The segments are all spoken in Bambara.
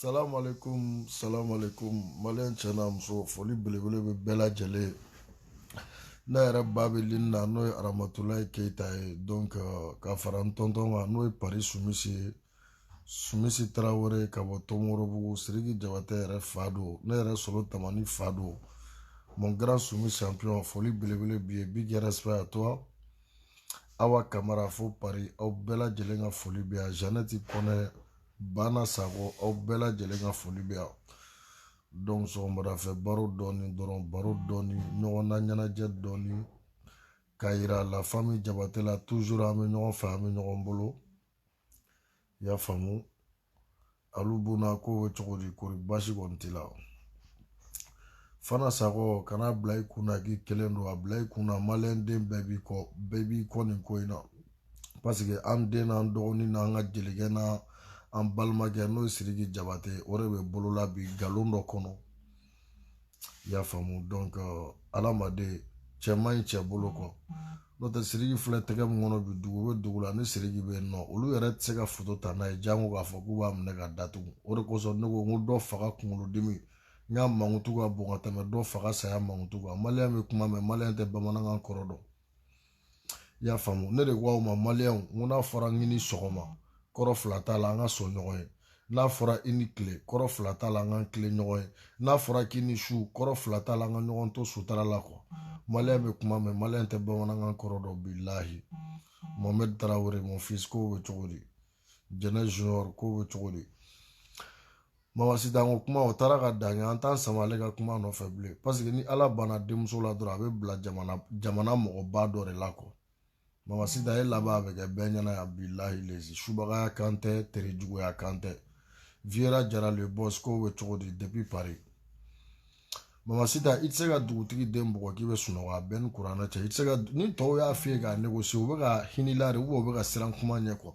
salamu alaikum salamu alaikum maliyɛn cɛ n'a muso foli belebele bɛ bɛɛ lajɛlen ne yɛrɛ ba bɛ lini na n'o ye aramatulayi keyita ye donc euh, ka fara n tɔntɔn kan n'o ye paris sumisi ye sumisi tarawele ka bɔ tomorobugu siriki jabate yɛrɛ fa don ne yɛrɛ solo tamani fa don mon grand sumi champion foli belebele b'i ye big respect à toi awa kamara fo paris aw bɛɛ lajɛlen ka foli bɛ yan janɛti kɔnɛ bana sago aw bɛɛ lajɛlen ka foli bɛ yan donc sɔgɔmada fɛ baro dɔɔni dɔrɔn baro dɔɔni ɲɔgɔn na ɲɛnajɛ dɔɔni k'a yira la famille jabatela toujours an bɛ ɲɔgɔn fɛ an bɛ ɲɔgɔn bolo i y'a faamu alu buna ko bɛ cogo di kori basi kɔni t'i la fana sago kana bila i kunna k'i kelen don a bila i kunna maliyɛn den bɛɛ b'i kɔ nin ko in na parce que an den n'an dɔgɔnin n'an ka jelikɛ na an balimakɛ n'o ye siriki jabate o de bɛ bolola bi nkalon dɔ kɔnɔ i y'a faamu donc hadamaden cɛ man ɲi cɛ bolo kɔ n'o tɛ siriki filɛ tɛgɛ min kɔnɔ bi dugu bɛ dugu la ni siriki bɛ yen nɔ olu yɛrɛ tɛ se ka foto ta n'a ye janko k'a fɔ k'u b'a minɛ k'a datugu o de kosɔn ne ko n ko dɔ fa ka kunkolodimi a mankutu ka bon ka tɛmɛ dɔ fa ka saya mankutu kan maliyɛn bɛ kuma mɛn maliyɛn tɛ bamanankan kɔrɔ dɔn i y'a faamu ne de ko aw ma maliyɛnw n ko n'a fɔra i ni sɔgɔma kɔrɔ fila t'a la an ka sɔn ɲɔgɔn ye n'a fɔra i ni tile kɔrɔ fila t'a la an ka tilen ɲɔgɔn ye n'a fɔra k'i ni su kɔrɔ fila t'a la an ka ɲɔgɔn to sutura la quoi maliyɛn bɛ kuma mɛn maliyɛn tɛ bamanankan kɔrɔ dɔn bilahi mohamɛdi tarawele mon fils ko bɛ cogo di jɛnɛ junior ko bɛ cogo di mamasita ko kuma o taara ka dan an t'an sama ale ka kuma nɔfɛ bilen parce que ni ala banna denmuso la dɔrɔn a bɛ bila jamana jamana mɔgɔba dɔ de la quoi mamasita e laban a bɛ kɛ bɛɛ ɲɛna yan bilahi lezi subagaya kan tɛ tere juguya kan tɛ viera jara le boss ko bɛ cogo di depuis paris mamasita i tɛ se ka dugutigi den bugɔ k'i bɛ sunɔgɔ a bɛ n ni kuranɛ cɛ i tɛ se ka ni tɔw y'a f'i ye k'a négocier u bɛ ka hinɛ i la de u bɛ ka siran kuma ɲɛ quoi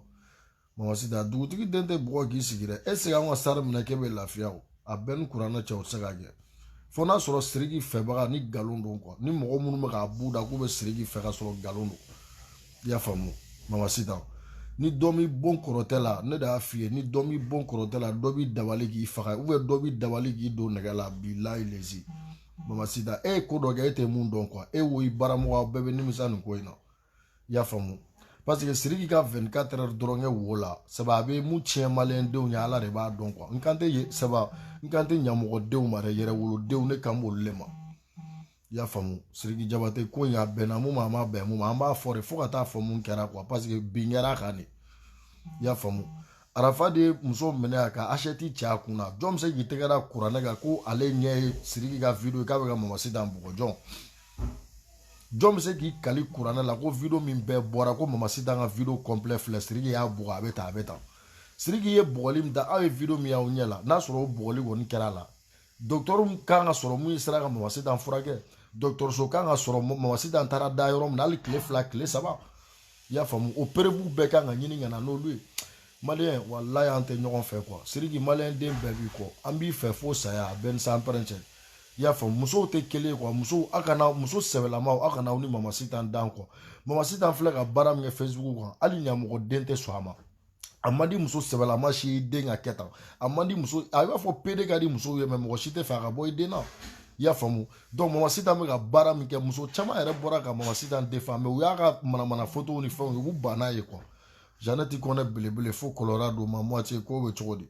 mamasita dugutigi den tɛ bugɔ k'i sigi dɛ e sigi an ka sari minɛ k'e bɛ lafiya o a bɛ n ni kuranɛ cɛ o tɛ se ka kɛ fo n'a sɔrɔ siriki fɛbaga ni nkalon don quoi ni mɔgɔ minnu bɛ k'a b'u da k'u bɛ siriki fɛ ka sɔrɔ nkalon don i y'a faamu mamasita ni dɔ m'i bon kɔrɔtɛ la ne de y'a f'i ye ni dɔ m'i bon kɔrɔtɛ la dɔ b'i dabali k'i faga ou bien dɔ b'i dabali k'i don nɛgɛ la bilahi lezi mamasita e ye ko dɔ kɛ e tɛ min dɔn quoi e wo i baramɔgɔ aw bɛɛ bɛ nimisa nin ko in na i y'a faamu parce que siriki ka 24 heures dɔrɔn kɛ wo la saba a bɛ mun tiɲɛ maliyɛn denw ye ala de b'a dɔn quoi n kan tɛ saba n kan tɛ ɲamɔgɔdenw ma dɛ yɛrɛwolodenw ne kan b'olu le ma i y'a faamu siriki jabate ko in a bɛnna mun ma a ma bɛn mun ma an b'a fɔ de fo ka taa fɔ mun kɛra quoi parce que bin kɛr'a kan de i y'a faamu arafa de ye muso minɛ ka asiyɛti ci a kun na jɔn bɛ se k'i tɛgɛ da kuranɛ kan ko ale ɲɛ ye siriki ka video k'a bɛ ka mama sitan bugɔ jɔn jɔn bɛ se k'i kali kuranɛ la ko video min bɛɛ bɔra ko mama sitan ka video complet filɛ siriki y'a bugɔ a bɛ tan a bɛ tan siriki ye bugɔli min da aw ye video min y'aw ɲɛ la n'a sɔrɔ o bugɔli kɔni kɛra a la dɔgɔtɔrɔ kan ka sɔrɔ mun sera ka mama sitan furakɛ dɔgɔtɔrɔso kan ka sɔrɔ mama sitan taara da yɔrɔ min na hali tile fila tile saba i y'a faamu o perebu bɛɛ kan ka ɲini ka na n'olu ye maliyɛn walayi an tɛ ɲɔgɔn fɛ kuwa siriki maliyɛn den bɛɛ b'i kɔ an b'i fɛ fo saya a bɛ n ni sanpɛrɛn cɛ i y'a faamu musow tɛ kelen ye kuwa musow aw kana muso sɛbɛlamaw aw kana aw ni mama sitan dan kuwa mama sitan filɛ ka baara min kɛ fɛsibuku kan hali ɲamɔgɔden tɛ sɔn a ma a man di muso sɛbɛlama si i den ka kɛ tan a man di muso a b'a fɔ pede ka di musow ye mɛ mɔgɔ si tɛ fɛ a ka bɔ i den na i y'a faamu donc mama sitan bɛ ka baara min kɛ muso caman yɛrɛ bɔra ka mama sitan defan mɛ u y'a ka manamana fotow ni fɛnw ye u banna ye kuwa janɛti kɔnɛ belebele fo kolorado ma moitié k'o bɛ cogo di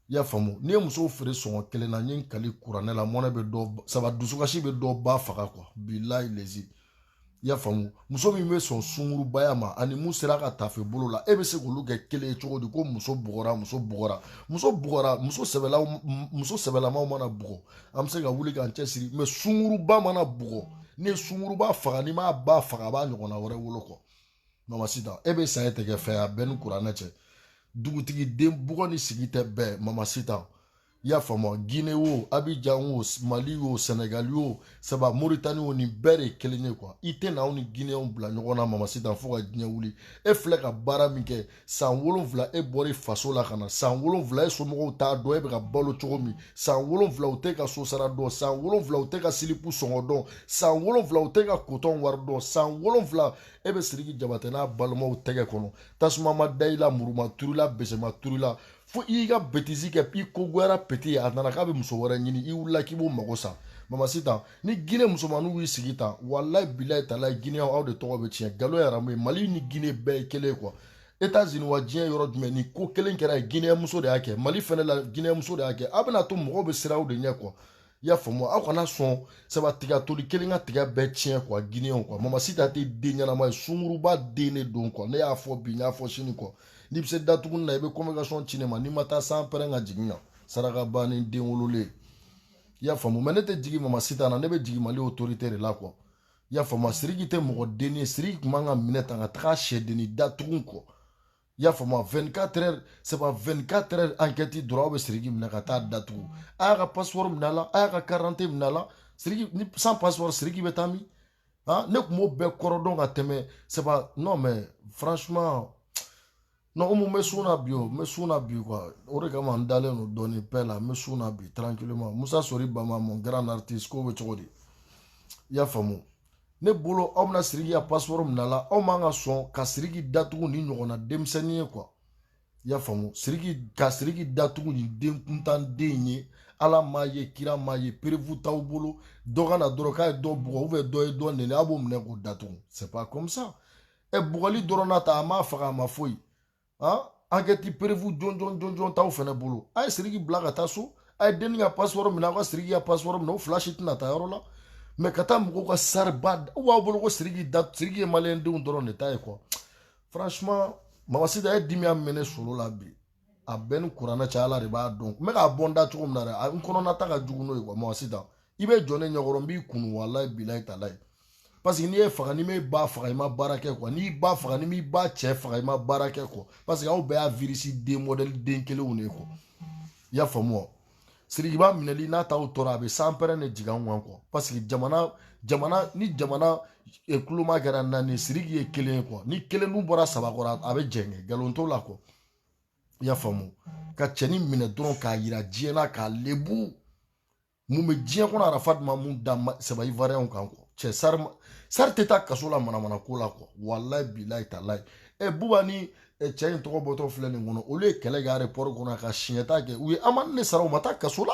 i y'a faamu n'i ye musow feere sɔngɔ kelen na n ye n kali kuranɛ la mɔnɛ bɛ dɔ saba dusukasi bɛ dɔ ba faga kuwa bilayi lezi i y'a faamu muso min bɛ sɔn sungurubaya ma ani mun sera ka tafe bolo la e bɛ se k'olu kɛ kelen ye cogo di ko muso bugɔra muso bugɔra muso bugɔra muso sɛbɛlaw muso sɛbɛlamaw mana bugɔ an bɛ se ka wuli k'an cɛsiri mɛ sunguruba mana bugɔ n'i ye sunguruba faga n'i m'a ba faga a b'a ɲɔgɔnna wɛrɛ wolo kuwa mama sitan e bɛ sa i tɛ kɛ fɛn ye a bɛ n ni kuranɛ cɛ dugutigi den bugɔ ni sigi tɛ bɛn mama sitan i y'a faamu gine wo abijan wo mali wo sɛnɛgali wo saba moritani wo nin bɛɛ de ye kelen ye kuwa i tɛ na anw ni gineyɛnw bila ɲɔgɔn na mama sitan fo ka diɲɛ wuli e filɛ ka baara min kɛ san wolonfila e bɔra i faso la ka na san wolonfila e somɔgɔw t'a dɔn e bɛ ka balo cogo min san wolonfila u t'e ka so sara dɔn san wolonfila u t'e ka silipu sɔngɔ dɔn san wolonfila u t'e ka kotɔn wari dɔn san wolonfila e bɛ siriki jabatɛ n'a balimaw tɛgɛ kɔnɔ tasuma ma da i la muru ma turu i la bese ma turu i la fo i y'i ka betizi kɛ i kogoyara peti a nana k'a bɛ muso wɛrɛ ɲini i wulila k'i b'o mago sa mama sitan ni gine musomanninw y'i sigi tan walayi bilayi talayi gineyɛnw aw de tɔgɔ bɛ tiɲɛ galo yɛrɛ mun ye mali ni gine bɛɛ ye kelen ye kuwa etazini wa diɲɛ yɔrɔ jumɛn ni ko kelen kɛra yen gineyɛn muso de y'a kɛ mali fɛnɛ la gineyɛn muso de y'a kɛ aw bɛna to mɔgɔw bɛ siran aw de ɲɛ kuwa i y'a faamu aw kana sɔn saba tiga toli kelen ka tiga bɛɛ tiɲɛ kuwa gineyɛnw kuwa mama sita tɛ den ɲɛnama ye sunguruba den de don kuwa ne y'a fɔ bi n y'a fɔ sini kuwa n'i bɛ se datuguni na i bɛ convocation ci ne ma n'i ma taa sanpɛrɛn ka jigin i kan saraka bannen den wololen i y'a faamu mɛ ne tɛ jigin mama sitan na ne bɛ jigin mali autorité de la kuwa i y'a faamu siriki tɛ mɔgɔ denni ye siriki tun man ka minɛ tan ka taga cɛdenni datugu kuwa i y'a faamu 24 heures c'est pas 24 heures enquête dɔrɔn aw bɛ siriki minɛ ka taa datugu a y'a ka passeport minɛ a la a y'a ka carte d'identité minɛ a la siriki ni sans passeport siriki bɛ taa min ah ne tun b'o bɛɛ kɔrɔ dɔn ka tɛmɛ c'est pas non mais franchement non komi n bɛ sun na bi o n bɛ sun na bi quoi o de kama n dalen don dɔɔni paix la n bɛ sun na bi tranquillement musa sori bama mon grand artiste k'o bɛ cogo di i y'a faamu ne bolo aw bɛna siriki ya passeport minɛ a la aw man ka sɔn ka siriki datugu nin ɲɔgɔnna denmisɛnnin ye quoi i y'a faamu siriki ka siriki datugu nin den kuntan den ye ala m'a ye kira m'a ye preuve t'aw bolo dɔ ka na dɔrɔn k'a ye dɔ bugɔ ou bien dɔ ye dɔ nɛni aw b'o minɛ k'o datugu c'est pas comme ça ɛ bugɔli dɔrɔn na ta a m'a faga a ma foyi han enquête preuve jɔnjɔn jɔnjɔn t'aw fɛnɛ bolo a ye siriki bila ka taa so a ye denni ka passeport minɛ aw ka siriki ka passeport minɛ o fila si tɛna taa yɔrɔ la mais ka taa mɔgɔw ka sariba u b'aw bolo ko siriki da siriki ye maliyɛndenw dɔrɔn de ta ye quoi franchement mamasita ye dimi mɛnɛ ne solo la bi a bɛɛ ni kuranɛ cɛ ala de b'a dɔn n bɛ k'a bɔ n da cogo min na dɛ a n kɔnɔna ta ka jugu n'o ye quoi mamasita i bɛ jɔ ne ɲɛkɔrɔ n b'i kunu walayi bilayi talayi parce que n'i ye faga n'i m'e ba faga i ma baara kɛ quoi n'i ba faga n'i m'i ba cɛ faga i ma baara kɛ quoi parce que aw bɛɛ y'a virus den modèle den kelenw de ye quoi i y'a faamu wa sirikiba minɛli n'a t'aw tɔɔrɔ a bɛ sanpɛrɛn de jigin anw kan quoi parce que jamana jamana ni jamana kuloma kɛra naani siriki ye kelen ye quoi ni kelen dun bɔra saba kɔrɔ a bɛ jɛngɛ nkalon t'o la quoi i y'a faamu ka cɛnin minɛ dɔrɔn k'a yira diɲɛ na k'a lebu mun bɛ diɲɛ kɔnɔ arafat ma mun da saba ivoirienw kan quoi cɛ sari sari tɛ taa kaso la manamana ko la quoi walayi bilayi talayi ɛ buba ni cɛ in tɔgɔ bɔtɔ filɛ ne kɔnɔ olu ye kɛlɛ kɛ aéroport kɔnɔ ka siɲɛta kɛ u ye amende de sara u ma taa kaso la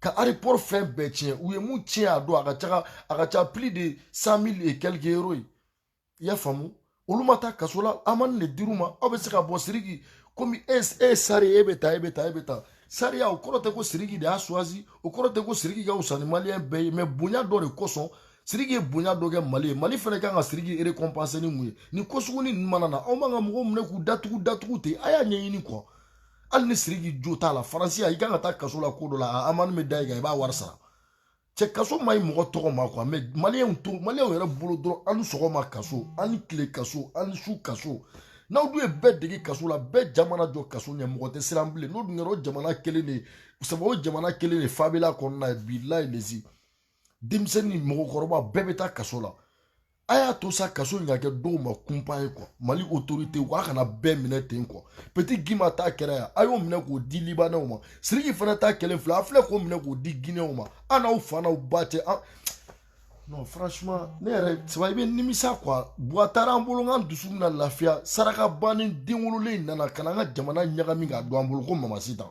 ka aéroport fɛn bɛɛ tiɲɛ u ye mun tiɲɛ a don a ka ca a ka ca plus de cent mille et quelques euros ye i y'a faamu olu ma taa kaso la amende de dir'u ma aw bɛ se k'a fɔ siriki komi e ye sari ye e bɛ taa e bɛ taa e bɛ taa sariya o kɔrɔ tɛ ko siriki de y'a choisi o kɔrɔ tɛ ko siriki ka wusa ni maliyɛn bɛɛ ye mais bonya dɔ de kosɔn siriki ye bonya dɔ kɛ mali ye mali fana kan ka siriki récompenser ni mun ye nin ko suguni ninnu mana na aw man ka mɔgɔw minɛ k'u datugu datugu ten a y'a ɲɛɲini quoi hali ni siriki jo t'a la faransi a i kan ka taa kaso la ko dɔ la a amende bɛ da i kan i b'a wari sara cɛ kaso ma ɲi mɔgɔ tɔgɔ ma quoi mais maliyɛnw to maliyɛnw yɛrɛ bolo dɔrɔn an ni sɔgɔma kaso an ni tile kaso an ni su kaso n'aw dun ye bɛɛ dege kaso la bɛɛ ja mana jɔ kaso ɲɛ mɔgɔ tɛ siran bilen n'o dun kɛra o jamana kɛlen de saba o jamana kɛlen de favela kɔnɔna ye bilayi lezi denmisɛnnin mɔgɔkɔrɔba bɛɛ bɛ taa kaso la a y'a to sa kaso in ka kɛ dɔw ma kunpa ye quoi mali autoritéw aw kana bɛɛ minɛ ten quoi petit guimba ta kɛra yan a y'o minɛ k'o di libanɛw ma siriki fana ta kɛlen filɛ a filɛ k'o minɛ k'o di ginɛw ma an n'aw fa n'aw ba cɛ non franchement ne yɛrɛ saba i bɛ nimisa quoi buwa taara an bolo k'an dusu bɛna lafiya saraka bannen den wololen nana ka na an ka jamana ɲagami k'a don an bolo ko mamasita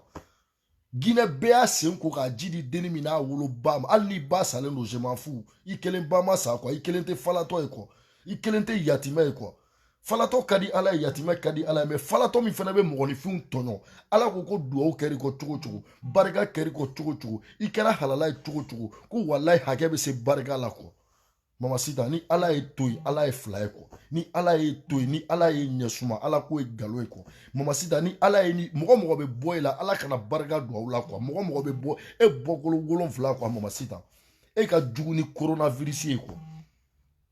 ginɛ bɛɛ y'a sen ko k'a ji di denni min n'a woloba ma hali ni ba salen don zemanfu i kelen ba ma sa kɔ i kelen tɛ falatɔ ye kɔ i kelen tɛ yatimɛ ye kɔ falatɔ ka di ala ye yatimɛ ka di ala ye mɛ falatɔ min fana bɛ mɔgɔninfinw tɔɲɔ ala ko ko duwawu kɛra i kɔ cogo cogo barika kɛra i kɔ cogo cogo i kɛra halala ye cogo cogo ko walayi hakɛ bɛ se barika la kɔ mama sitan ni ala ye to ye ala ye fila ye kɔ ni ala ye to ye ni ala ye ɲɛsuma ala k'o ye galo ye kɔ mama sitan ni ala ye ni mɔgɔ mɔgɔ bɛ bɔ e la ala kana barika don aw la kuwa mɔgɔ mɔgɔ bɛ bɔ e bɔkolo wolonfila kuwa mama sitan e ka jugu ni coronavirus ye kuwa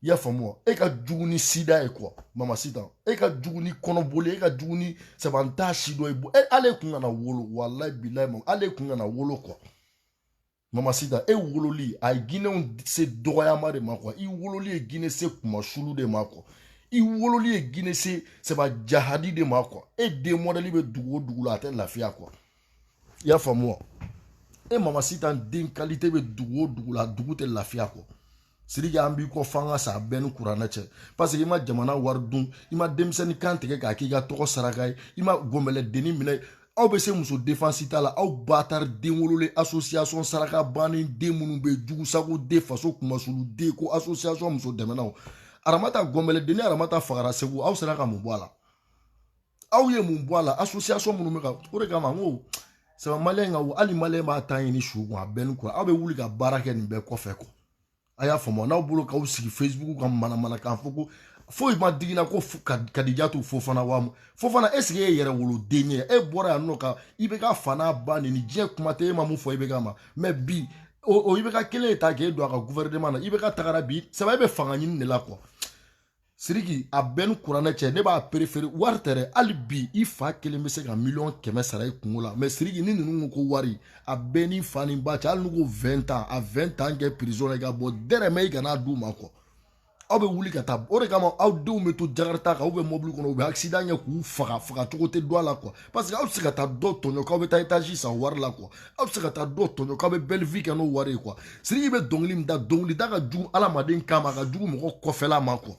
i y'a faamu wa e ka jugu ni sida ye kuwa mama sitan e ka jugu ni kɔnɔboli e ka jugu ni sabanta si dɔ ye e ale kun kana wolo walayi bilayi ma ale kun kana wolo kuwa mama sitan e wololi a ye ginenw se dɔgɔyama de ma kuwa i wololi ye gine se kumasulu de ma kuwa i wololi ye gine se saba jahadi de ma kuwa e den mɔdɛli bɛ dugu o dugu la a tɛ lafiya kuwa i y'a faamu wa e mama sitan den kalite bɛ dugu o dugu la dugu tɛ lafiya kuwa sidiki an b'i kɔ f'an ka sa bɛ n ni kuranɛ cɛ parce que i ma jamana wari dun i ma denmisɛnnin kan tigɛ k'a k'i ka tɔgɔ saraka ye i ma gɔnbɛlɛdenni minɛ aw bɛ se muso defansi ta la aw batariden wololen asosiyasɔn saraka bannen den minnu bɛ jugusago den faso kumasulu den ko asosiyasɔn muso dɛmɛnnaw aramata gɔnbɛlɛdenni aramata fagara segu aw sera ka mun bɔ a la aw ye mun bɔ a la association minnu bɛ ka o de kama n ko saba maliyɛn ka hali maliyɛn b'a ta ɲini su kun a bɛ n ni kuranɛ aw bɛ wuli ka baara kɛ nin bɛɛ kɔfɛ kɔ a y'a faamu n'aw bolo k'aw sigi facebook kan manamana k'a fɔ ko foyi ma digi n na ko kadijatu fofana wa fofana est ce que e yɛrɛ woloden ye e bɔra yan nɔ ka IBK fa n'a ba nɛni diɲɛ kuma tɛ e ma mun fɔ IBK ma mɛ bi o IBK kelen ta k'e don a ka gouvernement na IBK tagara bi saba e bɛ fanga ɲini de la quoi siriki a bɛ n ni kuranɛ cɛ ne b'a perefere wari tɛ dɛ hali bi i fa kelen bɛ se ka miliyɔn kɛmɛ sara i kunko la mɛ siriki ni ninnu ko wari a b'e n'i fa n'i ba cɛ hali n'u ko vɛn tan a vɛn tan kɛ pirizɔn na i ka bɔ dɛrɛmɛ i kana d'u ma kɔ aw bɛ wuli ka taa o de kama aw denw bɛ to jakarita kan u bɛ mɔbili kɔnɔ u bɛ akisidan kɛ k'u faga faga cogo tɛ dɔn a la kuwa parce que aw bɛ se ka taa dɔ tɔɲɔ k'aw bɛ taa etazi san wari la kuwa aw bɛ se ka taa dɔ tɔɲɔ k'aw bɛ bɛlifi kɛ n'o wari ye kuwa siriki bɛ dɔnkili min da dɔnkili da ka jugu adamaden kan ma a ka jugu mɔgɔ kɔfɛla ma kuwa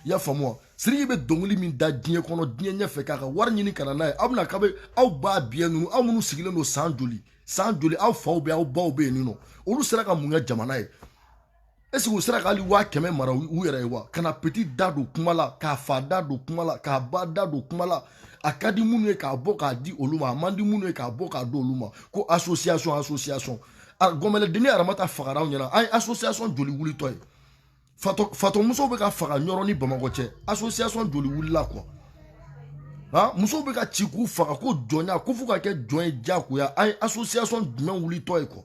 i y'a faamu wa siriki bɛ dɔnkili min da diɲɛ kɔnɔ diɲɛ ɲɛfɛ k'a ka wari ɲini ka na n'a ye aw bɛna k'a bɛ aw ba biyɛ ninnu aw minnu sigilen don san joli san joli aw faw bɛ aw baw bɛ yen nin nɔ olu sera ka mun kɛ jamana ye est-ce que u sera ka hali waa kɛmɛ mara u yɛrɛ ye wa ka na peti da don kuma la k'a fa da don kuma la k'a ba da don kuma la a ka di minnu ye k'a bɔ k'a di olu ma a man di minnu ye k'a bɔ k'a di olu ma ko association association a gɔnbɛlɛdenni aramata fagara anw ɲɛna an ye association joli wulitɔ ye fatɔ fatɔmusow bɛ ka faga ɲɔrɔ ni bamakɔ cɛ association joli wulila kuwa ha musow bɛ ka ci k'u faga ko jɔnya ko fo ka kɛ jɔn ye diyagoya an ye association jumɛn wulitɔ ye kuwa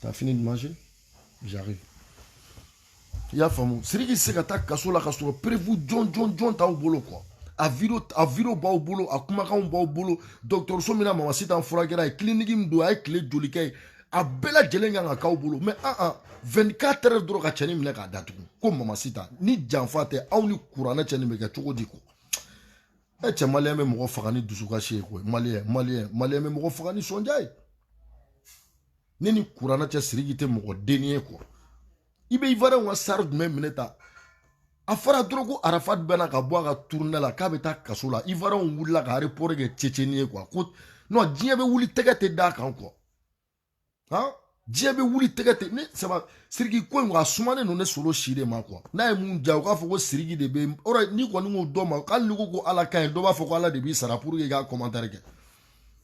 T'as fini de manger J'arrive. I y'a faamu. Siriki se ka taa kaso la ka sɔrɔ preuve jɔnjɔnjɔn t'aw bolo quoi. A wideyo, a wideyo b'aw bolo a kumakanw b'aw bolo dɔgɔtɔrɔso min na mamasita furakɛra a ye kiliniki min don a ye tile joli kɛ yen a bɛɛ lajɛlen kan ka k'aw bolo mɛ an an 24 heures dɔrɔn ka cɛni minɛ k'a datugu ko mamasita ni janfa tɛ aw ni kuranɛ cɛ nin bɛ kɛ cogo di kɔ ɛ cɛ maliyɛn bɛ mɔgɔ faga ni dusukasi ye koyi maliyɛn maliyɛn maliyɛn bɛ mɔgɔ faga ni sɔnja ye ne ni kuranɛ cɛ siriki tɛ mɔgɔ denni ye kuwa i bɛ ivariyɛnw ka star jumɛn minɛ ta a fɔra dɔrɔn ko arafati bɛ na ka bɔ a ka turune la k'a bɛ taa kaso la ivariyɛnw wulila ka ayeropɔri kɛ ceceni ye kuwa ko nɔn diɲɛ bɛ wuli tɛgɛ tɛ d'a kan kuwa han diɲɛ bɛ wuli tɛgɛ tɛ ne saba siriki ko in a sumanen don ne solo si de ma kuwa n'a ye mun diya u k'a fɔ ko siriki de bɛ yɔrɔ n'i kɔni k'o dɔn ma hali n'i ko ko ala ka ɲi dɔ b'a fɔ ko ala de b'i sara puruke i k'a kɔmantari kɛ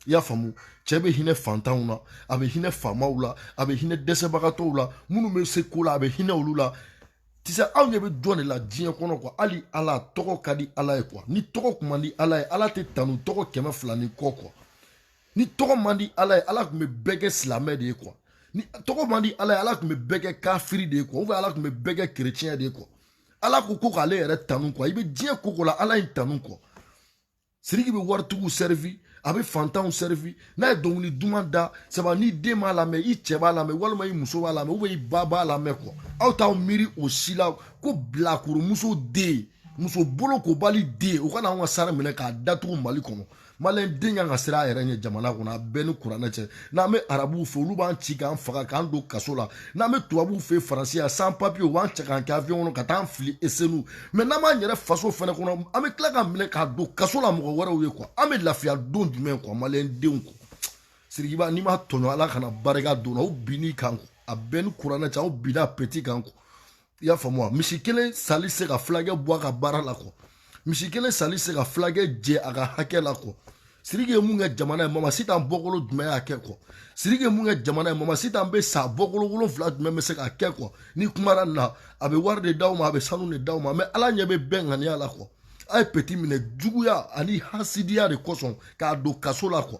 i y'a faamu cɛ bɛ hinɛ fantanw na a bɛ hinɛ faamaw la a bɛ hinɛ dɛsɛbagatɔw la minnu bɛ se ko la a bɛ hinɛ olu la tise aw ɲɛ bɛ jɔn de la diɲɛ kɔnɔ kuwa hali ala tɔgɔ ka di ala ye kuwa ni tɔgɔ kun man di ala ye ala tɛ tanu tɔgɔ kɛmɛ fila ni kɔ kuwa ni tɔgɔ man di ala ye ala tun bɛ bɛɛ kɛ silamɛ de ye kuwa ni tɔgɔ man di ala ye ala tun bɛ bɛɛ kɛ kafiri de ye kuwa ubiyɛn ala tun bɛ bɛɛ kɛ kerecɛn de ye kuwa ala ko ko k'ale yɛrɛ tanu kuwa i bɛ diɲɛ ko ko la ala in tanu kuwa siriki bɛ waritigiw sɛrivi a bɛ fantanw sɛrivi n'a ye dɔnkili duman da saba n'i den b'a lamɛn i cɛ b'a lamɛn walima i muso b'a lamɛn ubiyɛn i ba b'a lamɛn kuwa aw t'aw miiri o si la ko bilakoromuso den muso bolokobali den u ka na anw ka star minɛ k'a datugu mali kɔnɔ maliyɛn den kan ka siran a yɛrɛ ɲɛ jamana kɔnɔ a bɛɛ ni kuranɛ cɛ n'an bɛ arabuw fɛ olu b'an ci k'an faga k'an don kaso la n'an bɛ tubabuw fɛ faransi yan san papiye u b'an cɛ k'an kɛ avion kɔnɔ ka taa an fili senu mɛ n'an b'an yɛrɛ faso fɛnɛ kɔnɔ an bɛ tila ka minɛ k'a don kaso la mɔgɔ wɛrɛw ye kuwa an bɛ lafiya don jumɛn kuwa maliyɛn denw kɔ sirikiba n'i ma tɔɲɔ ala kana barika don na u binn'i kan kɔ a bɛɛ ni kuranɛ cɛ aw binna peti kan kɔ i y'a faamu wa misi kelen sali se ka fulakɛ bɔ a ka baara la kɔ misi kelen sali se ka fulakɛ jɛ a ka hakɛ la kɔ siriki ye mun kɛ jamana ye mamasita bɔkolo jumɛn y'a kɛ kɔ siriki ye mun kɛ jamana ye mamasita bɛ sa bɔkolo wolonfila jumɛn bɛ se k'a kɛ kɔ ni kumara nin na a bɛ wari de d'aw ma a bɛ sanu de d'aw ma mɛ ala ɲɛ bɛ bɛɛ ŋaniya la kɔ a ye peti minɛ juguya ani hasidiya de kosɔn k'a don kaso la kɔ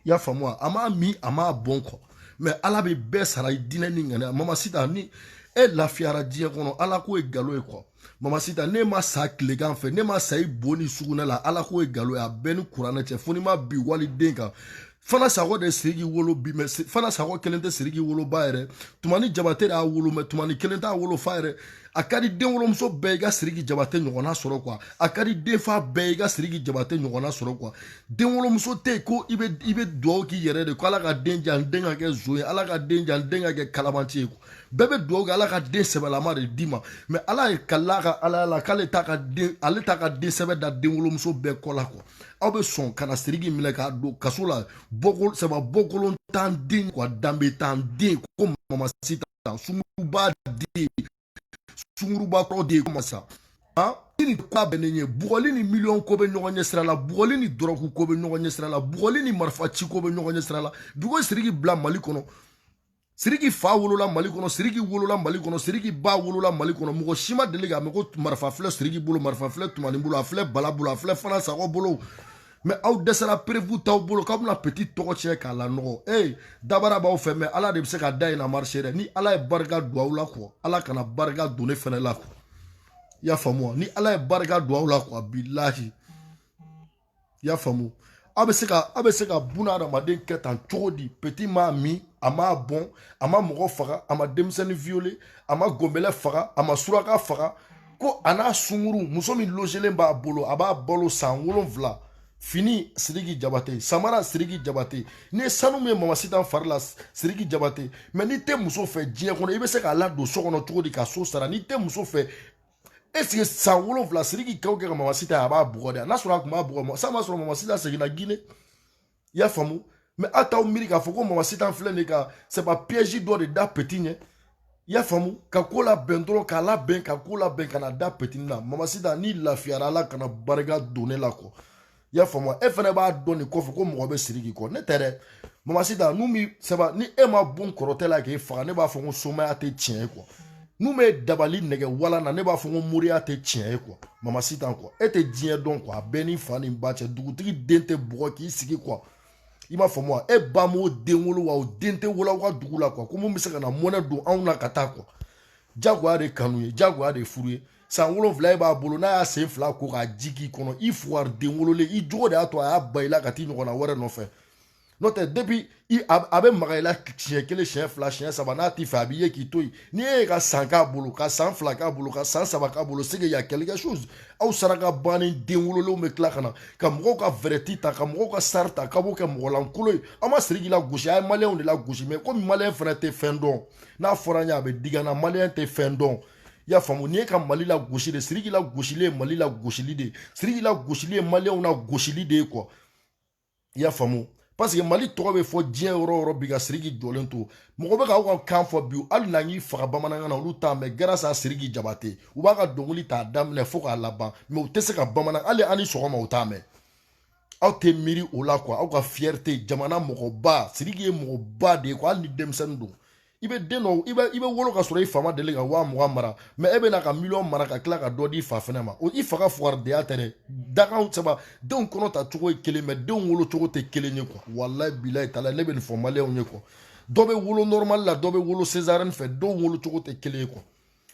i y'a faamu a m'a min a m'a bɔn kɔ mɛ ala bɛ bɛɛ sara i diinɛ ni ŋaniya mamasita ni e lafiyara diɲɛ kɔnɔ ala k'o ye nkalon ye kɔ mamasita n'e ma sa tilegan fɛ n'e ma sa i bo ni sugunɛ la ala k'o ye nkalon ye a b'e ni kuranɛ cɛ fo n'i ma bin waliden kan fanta sakɔ de siriki wolo bi mɛ fanta sakɔ kelen tɛ siriki woloba yɛrɛ tumani jabate de y'a wolo mɛ tumani kelen t'a wolofa yɛrɛ a ka di den wolomuso bɛɛ i ka siriki jabate ɲɔgɔnna sɔrɔ kuwa a ka di denfa bɛɛ i ka siriki jabate ɲɔgɔnna sɔrɔ kuwa den wolomuso tɛ yen ko i bɛ i bɛ dugawu k'i yɛrɛ de ko ala ka den jan den ka kɛ zon ye ala ka den jan den ka kɛ kalabanci ye bɛɛ bɛ dugawu kɛ ala ka den sɛbɛlama de d'i ma mɛ ala ye kala ka ala la k'ale t'a ka den ale t'a ka den sɛbɛ da den wolomuso bɛɛ kɔ la kuwa aw bɛ sɔn ka na siriki minɛ k'a don kaso la bɔkolo sɛ pa bɔkolontan den kuwa danbetan den ko mamasi tan sunguruba den sunguruba kɔrɔ den kuma sa han ni nin kuma bɛ ne ɲɛ bugɔli ni miliyɔn ko bɛ ɲɔgɔn ɲɛ sira la bugɔli ni dɔrɔgu ko bɛ ɲɔgɔn ɲɛ sira la bugɔli ni marifa ci ko bɛ ɲɔgɔn ɲɛ sira la dugu siriki bila mali kɔnɔ siriki fa wolola mali kɔnɔ siriki wolola mali kɔnɔ siriki ba wolola mali kɔnɔ mɔgɔ si ma deli k'a mɛn ko marifa filɛ siriki bolo marifa filɛ tumani bolo a filɛ bala bolo a filɛ fanta sakɔ bolo mɛ aw dɛsɛra perefu t'aw bolo k'aw bɛna peti tɔgɔ tiɲɛ k'a lanɔgɔ ee dabara b'aw fɛ mɛ ala de bɛ se ka da in na marise dɛ ni ala ye barika don aw la kɔ ala kana barika don ne fɛnɛ la kɔ i y'a faamu wa ni ala ye barika don aw la kɔ bilahi i y'a faamu aw bɛ se ka aw bɛ se ka buna hadamaden kɛ tan cogo di peti m'a min a m'a bɔn a ma mɔgɔ faga a ma denmisɛnnin viole a ma gonbɛlɛ faga a ma suraka faga ko a n'a sunguru muso min loselen b'a bolo a b'a balo san wolonfila fini siriki jabate samara siriki jabate ni sanu min ye mamasitan fari la siriki jabate mɛ n'i tɛ muso fɛ diɲɛ kɔnɔ i bɛ se k'a ladon so kɔnɔ cogo di ka so sara n'i tɛ muso fɛ esike san wolonfila siriki kɛ o kɛ ka mamasita a b'a bugɔ de a n'a sɔrɔ a tun b'a bugɔ san b'a sɔrɔ mamasita seginna gine i y'a faamu mɛ aw t'aw miiri k'a fɔ ko mamasitan filɛ nin ka sɛ pa piɛzi dɔ de da peti ɲɛ i y'a faamu ka ko labɛn dɔrɔn k'a labɛn ka ko labɛn ka na da petini na mamasitan n'i lafiyara ala kana barika don ne la kɔ i y'a faamu e fana b'a dɔn nin kɔfɛ ko mɔgɔ bɛ siriki kɔ ne tɛ dɛ mamasitan n'u m'i sɛ pa ni e ma bon kɔrɔtɛ la k'e faga ne b'a fɔ ko somaya tɛ tiɲɛ ye kɔ n'u m'e dabali nɛgɛ walan na ne b'a fɔ ko moriya tɛ tiɲɛ ye kuwa mamasitan kuwa e tɛ diɲɛ dɔn kuwa a b'e n'i fa n'i ba cɛ dugutigi den tɛ bugɔ k'i sigi kuwa i b'a faamu wa e ba m'o den wolo wa o den tɛ wolo aw ka dugu la kuwa ko mun bɛ se ka na mɔnɛ don anw na ka taa kuwa jagoya de kanu ye jagoya de furu ye san wolonfila e b'a bolo n'a y'a sen fila ko k'a ji k'i kɔnɔ i fugariden wololen i jogo de y'a to a y'a ban i la ka t'i ɲɔgɔnna wɛrɛ nɔfɛ n'o tɛ depi a bɛ maga i la siɲɛ kelen siɲɛ fila siɲɛ saba n'a t'i fɛ a b'i ye k'i to yen n'i ye ka san k'a bolo ka san fila k'a bolo ka san saba k'a bolo c'est que y a quelque chose aw saraka bannen den wololenw bɛ tila ka na ka mɔgɔw ka vɛrɛti ta ka mɔgɔw ka sari ta ka b'o kɛ mɔgɔlankolon ye aw ma siriki lagosi a ye maliyɛnw de lagosi mɛ komi maliyɛn fana tɛ fɛn dɔn n'a fɔra n ye a bɛ digi n na maliyɛn tɛ fɛn dɔn i y'a faamu n'i ye ka mali lagosi de siriki lagosili ye mali lagosili de ye siriki lagosili ye maliyɛnw lagosili de ye kuwa i y'a faamu parce que mali tɔgɔ bɛ fɔ diɲɛ yɔrɔ o yɔrɔ bi ka siriki jɔlen to mɔgɔ bɛ k'aw ka kan fɔ bi hali n'a y'i faga bamanankan na olu t'a mɛn grâce à siriki jabate u b'a ka dɔnkili t'a daminɛ fo k'a laban mɛ u tɛ se ka bamanan hali a ni sɔgɔma u t'a mɛn aw tɛ miiri o la kuwa aw ka fiyɛrite jamana mɔgɔba siriki ye mɔgɔba de ye kuwa hali ni denmisɛnnin don i bɛ den dɔ i bɛ wolo ka sɔrɔ i fa ma deli ka waa mugan mara mɛ e bɛna ka miliyɔn mara ka tila ka dɔ di i fa fɛnɛ ma o i fa ka fugaridenya tɛ dɛ dakan saba denw kɔnɔ ta cogo ye kelen mɛ denw wolo cogo tɛ kelen ye kuwa walayi bilayi tala ne bɛ nin fɔ maliyɛnw ye kuwa dɔ bɛ wolo nɔrɔmali la dɔ bɛ wolo sezarɛni fɛ denw wolo cogo tɛ kelen ye kuwa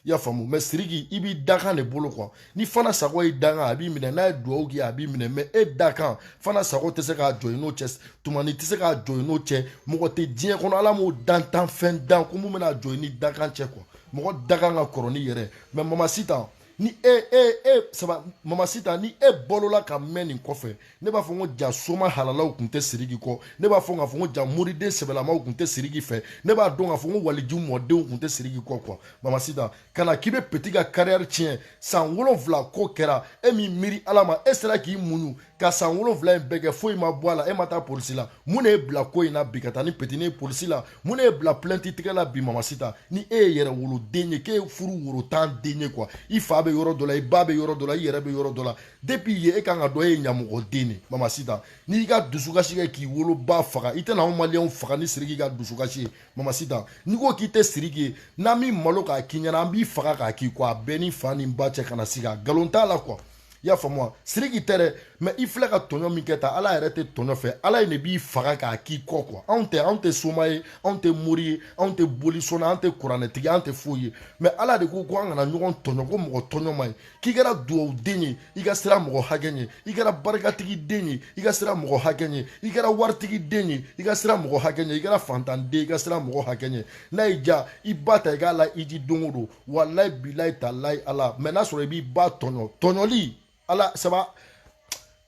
i y'a faamu mɛ siriki i b'i dakan de bolo kuwa ni fana sago y'i danga a b'i minɛ n'a ye duwawu k'i ye a b'i minɛ mɛ e dakan fana sago tɛ se ka jɔ i n'o cɛ tumani tɛ se ka jɔ i n'o cɛ mɔgɔ tɛ diɲɛ kɔnɔ ala m'o dantan fɛn dan ko mun bɛna jɔ i n'i dakan cɛ kuwa mɔgɔ dakan ka kɔrɔ n'i yɛrɛ mɛ mamasita ni e e e saba mamasita ni e balola ka mɛn nin kɔfɛ ne b'a fɔ n ko ja soma halalaw tun tɛ siriki kɔ ne b'a fɔ k'a fɔ n ko ja moriden sɛbɛlamaw tun tɛ siriki fɛ ne b'a dɔn k'a fɔ n ko waliju mɔdenw tun tɛ siriki kɔ kuwa mamasita ka na k'i bɛ peti ka kariyɛri tiɲɛ san wolonfila ko kɛra e min miiri ala ma e sera k'i muɲu ka san wolonfila in bɛɛ kɛ foyi ma bɔ a la e ma taa polisi la mun de y'i bila ko in na bi ka taa ni petini ye polisi la mun de y'i bila plɛnti tigɛ la bi mamasita ni e ye yɛrɛwoloden ye k'e furu woro tan den ye kuwa i fa bɛ yɔrɔ dɔ la i ba bɛ yɔrɔ dɔ la i yɛrɛ bɛ yɔrɔ dɔ la depuis ye e kan k'a dɔn e ye ɲamɔgɔden de mamasita n'i ka dusukasi kɛ k'i woloba faga i tɛna anw maliyɛnw faga ni siriki ka dusukasi ye mamasita n'i ko k'i tɛ siriki ye n'an b'i malo k'a k'i ɲɛna an b'i faga k'a k'i kɔ a bɛɛ n'i fa n'i ba cɛ kana siga nkalon t'a la kuwa i y'a faamu wa siriki tɛ dɛ mɛ i filɛ ka tɔɲɔ min kɛ tan ala yɛrɛ tɛ tɔɲɔ fɛ ala yɛrɛ b'i faga k'a k'i kɔ kuwa anw tɛ anw tɛ soma ye anw tɛ mori ye anw tɛ boli sɔnna anw tɛ kuranɛtigi an tɛ foyi ye mɛ ala de ko ko an kana ɲɔgɔn tɔɲɔ ko mɔgɔ tɔɲɔ man ɲi k'i kɛra duwawuden ye i ka siran mɔgɔ hakɛ ɲɛ i kɛra barikatigi den ye i ka siran mɔgɔ hakɛ ɲɛ i kɛra waritigi den ye i ka siran mɔgɔ hakɛ ɲɛ i kɛra fantanden i ka siran mɔgɔ hakɛ ɲɛ n'a y'i diya i ba ta i k'a lahiji don o don walayi bilayi talayi ala mɛ n'a sɔrɔ i b'i ba tɔɲɔ tɔɲɔli ala saba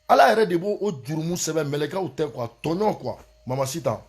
ala yɛrɛ de b'o jurumu sɛbɛn mɛlɛkɛw tɛ kuwa tɔɲɔ kuwa mama sita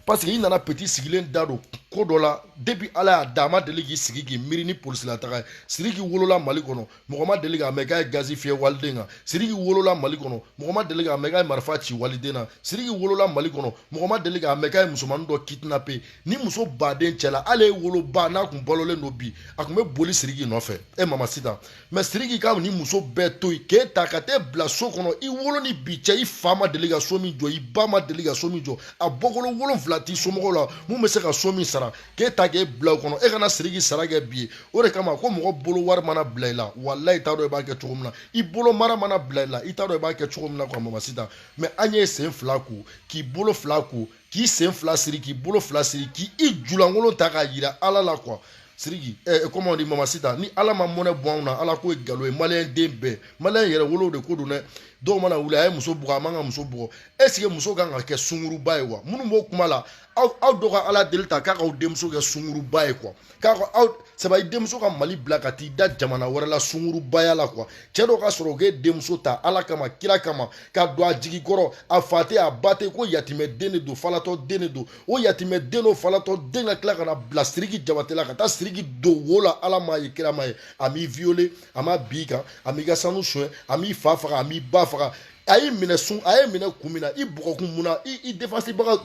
parce que i nana petit sigilen da don ko dɔ la depuis ala y'a da a ma deli k'i sigi k'i miiri ni polisi la taga ye sidiki wolola mali kɔnɔ mɔgɔ ma deli k'a mɛn k'a ye gazi fiyɛ waliden kan sidiki wolola mali kɔnɔ mɔgɔ ma deli k'a mɛn k'a ye marifa ci waliden na sidiki wolola mali kɔnɔ mɔgɔ ma deli k'a mɛn k'a ye musomanin dɔ kidnappé ni muso baden cɛla ale ye woloba n'a kun balolen don bi a kun bɛ boli sidiki nɔfɛ e mama sita mɛ siriki ka nin muso bɛɛ to yen k'e ta ka t'e bila so kɔnɔ i wolo ni bi cɛ i fa ma deli ka so min jɔ i ba ma deli ka so min jɔ a bɔkolo wolonfila t'i somɔgɔw la mun bɛ se ka so min sara k'e ta k'e bila o kɔnɔ e ka na siriki sara kɛ bi ye o de kama ko mɔgɔ bolo wari mana bila i la walayi i t'a dɔn i b'a kɛ cogo min na i bolo mara mana bila i la i t'a dɔn i b'a kɛ cogo min na kuwa mamasita mɛ an y'e sen fila ko k'i bolo fila ko k'i sen fila siri k'i bolo fila siri k'i julankolon ta k'a yira ala la kuwa siriki eh, eh, comment on dit mama sita ni ala ma mɔnɛ bɔ anw na ala ko ye galo ye maliyɛn den bɛɛ maliyɛn yɛrɛwolow de ko don dɛ dɔw mana wuli a ye muso bugɔ a man ka muso bugɔ est ce que muso kan ka kɛ sunguruba ye wa minnu b'o kuma la aw dɔ ka ala deli ta k'a k'aw denmuso kɛ sunguruba ye kuwa k'a ko aw saba i denmuso ka mali bila ka t'i da jamana wɛrɛ la sungurubaya la kuwa cɛ dɔ ka sɔrɔ o k'e denmuso ta ala kama kira kama ka don a jigi kɔrɔ a fa tɛ a ba tɛ ko yatimɛ den de don falatɔ den de don o yatimɛ den n'o falatɔ den ka tila ka na bila siriki jabate la ka taa siriki don wo la ala m'a ye kira m'a ye a m'i violé a ma b'i kan a m'i ka sanu suɲɛ a m'i fa faga a m'i ba faga a y'i minɛ sun a y'i minɛ kun min na i bugɔkun mun na i i defansibaga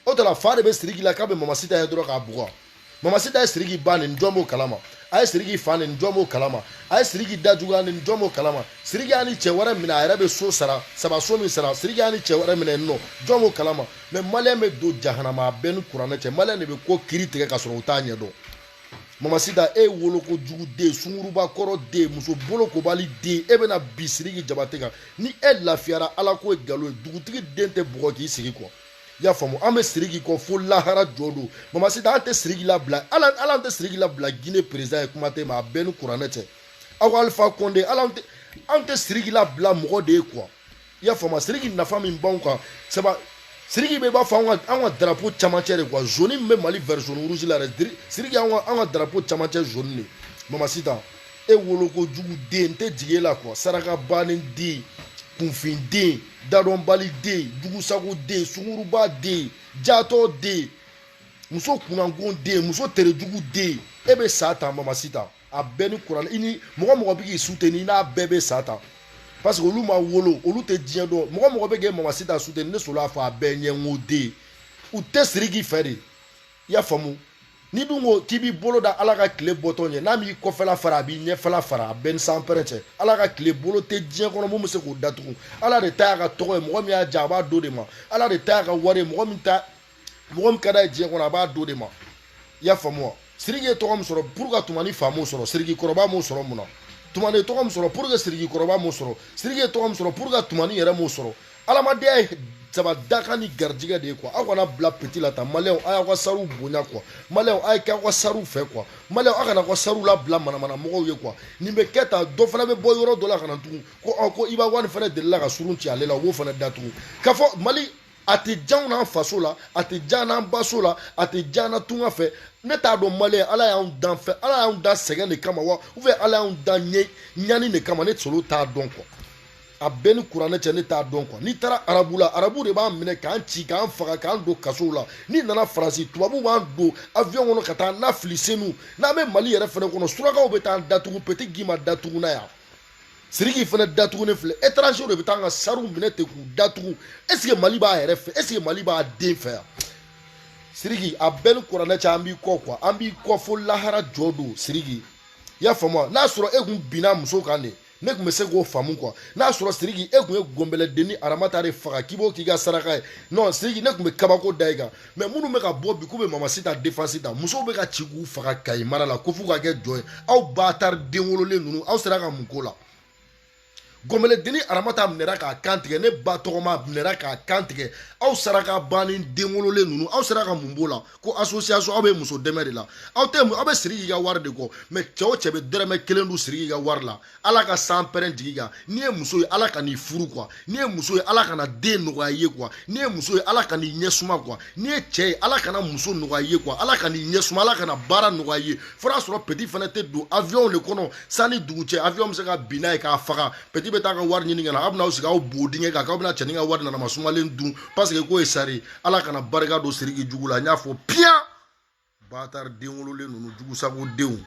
o tɛ la fa de bɛ siriki la k'a bɛ mamasita ye dɔrɔn k'a bugɔ mamasita ye siriki ba neni jɔn b'o kalama a ye siriki fa neni jɔn b'o kalama a ye siriki da juguya nin jɔn b'o kalama siriki y'a ni cɛ wɛrɛ minɛ a yɛrɛ bɛ so sara saba so min sara siriki y'a ni cɛ wɛrɛ minɛ yen nɔ jɔn b'o kalama mɛ maliyɛn bɛ don jahanama a bɛɛ ni kuranɛ cɛ maliyɛn de bɛ ko kiiri tigɛ ka sɔrɔ u t'a ɲɛ dɔn mamasita e woloko jugu den sunguruba kɔrɔ den muso bolokobali den e bɛna bin siriki jabate kan ni e lafiyara ala ko ye galo ye dugutigi den tɛ bugɔ k'i sigi kuwa i y'a faamu an bɛ siriki kɔ fo lahara jɔ don mamasita an tɛ siriki labila ala ala an tɛ siriki labila gine perezidan ye kuma tɛ ma a bɛɛ ni kuranɛ cɛ aw ka alifa kɔnde ala an tɛ an tɛ siriki labila mɔgɔ de ye kuwa i y'a faamu siriki nafa min b'anw kan saba siriki bɛɛ b'a fɔ an ka an ka darapo camancɛ de kuwa zoni min bɛ mali vɛri zoni wurusi la dɛ siriki an ka an ka darapo camancɛ zoni de mamasita e woloko jugu den n tɛ jigin e la kuwa saraka bannen den kunfin den dadɔnbali den jugusago den sunguruba den jatɔ den muso kunnango den muso terejugu den e bɛ sa ta mamasita a bɛɛ ni kuranɛ i ni mɔgɔ mɔgɔ bɛ k'i suteni n'a bɛɛ bɛ sa ta parce que olu ma wolo olu tɛ diɲɛ dɔn mɔgɔ mɔgɔ bɛ k'e mamasita suteni ne sɔrɔ a fɔ a bɛɛ ɲɛngo den u tɛ siriki fɛ de i y'a faamu n'i dun ko k'i b'i bolo da ala ka tile bɔtɔ ɲɛ n'a m'i kɔfɛla fara a b'i ɲɛfɛla fara a bɛɛ ni sanpɛrɛn cɛ ala ka tile bolo tɛ diɲɛ kɔnɔ mun bɛ se k'o datugu ala de ta y'a ka tɔgɔ ye mɔgɔ min y'a diya a b'a d'o de ma ala de ta y'a ka wari ye mɔgɔ min ta mɔgɔ min ka d'a ye diɲɛ kɔnɔ a b'a d'o de ma i y'a faamu wa siriki ye tɔgɔ min sɔrɔ pourquoi tumani fa m'o sɔrɔ siriki kɔrɔba m'o sɔrɔ mun na tumani ye tɔgɔ min sɔrɔ pourquoi siriki kɔrɔba m'o sɔrɔ siriki ye tɔgɔ min sɔrɔ pourquoi tumani yɛrɛ m'o sɔrɔ adamadenya ye saba dakan ni garijigɛ de ye quoi aw kana bila petit la tan maliyɛnw a y'aw ka sariw bonya quoi maliyɛnw a ye kɛ aw ka sariw fɛ quoi maliyɛnw aw kana aw ka sariw labila manamana mɔgɔw ye quoi nin bɛ kɛ tan dɔ fana bɛ bɔ yɔrɔ dɔ la ka na tugun ko ɔ ko iba wani fana delila ka surun ci ale la u b'o fana datugu k'a fɔ mali a tɛ diya anw n'an faso la a tɛ diya an n'an baso la a tɛ diya an na tunga fɛ ne t'a dɔn maliyɛn ala y'anw dan fɛ ala y'anw dan sɛgɛn de kama wa ou bien ala y'anw dan ɲɛ ɲani de kama ne solo t'a dɔn quoi a bɛɛ ni kuranɛ cɛ ne t'a dɔn quoi n'i taara arabu la arabu de b'an minɛ k'an ci k'an faga k'an don kasow la n'i nana faransi tubabu b'an don avion kɔnɔ ka taa n'an fili senu n'an bɛ mali yɛrɛ fɛnɛ kɔnɔ surakaw bɛ taa datugu petit gimba datugu na yan siriki fɛnɛ datugunen filɛ étranger de bɛ taa an ka sariw minɛ ten k'u datugu est ce que mali b'a yɛrɛ fɛ est ce que mali b'a den fɛ yan siriki a bɛɛ ni kuranɛ cɛ an b'i kɔ quoi an b'i kɔ fo lahara jɔ don siriki i y'a faamu wa n'a sɔrɔ e kun binna muso kan de ne kun bɛ se k'o faamu quoi n'a sɔrɔ siriki e kun ye gɔnbɛlɛdenni aramata de faga k'i b'o k'i ka saraka ye non siriki ne kun bɛ kabako da i kan mais minnu bɛ ka bɔ bi k'u bɛ mamasita défense ta musow bɛ ka ci k'u faga kayi mara la ko f'u ka kɛ jɔn ye aw baatari den wololen ninnu aw sera ka mun k'o la gɔnbɛlɛdenni aramata minɛra k'a kan tigɛ ne ba tɔgɔma minɛra k'a kan tigɛ aw saraka bannen den wololen ninnu aw sera ka mun b'o la ko association aw bɛ muso dɛmɛ de la aw tɛ aw bɛ siriki ka wari de kɔ mais cɛ o cɛ bɛ dɔrɔmɛ kelen dun siriki ka wari la ala ka sanpɛrɛn jigin i kan n'i ye muso ye ala kan'i furu quoi n'i ye muso ye ala kana den nɔgɔya i ye quoi n'i ye muso ye ala kan'i ɲɛsuma quoi n'i ye cɛ ye ala kana muso nɔgɔya i ye quoi ala kan'i ɲɛsuma ala kana baara nɔgɔya i ye fo n'a sɔrɔ petit fana tɛ don avion de kɔnɔ sanni dugu cɛ avion bɛ se ka bin n'a ye k'a faga petit bɛ taa ka wari ɲini ka na aw bɛna aw sigi aw bodingɛ kan k'aw bɛna cɛnin ka wari nanama sumalen dun parce que k'o ye sari ye ala kana barika don siriki jugu la n y'a fɔ piyan batari den wololen ninnu jugusago denw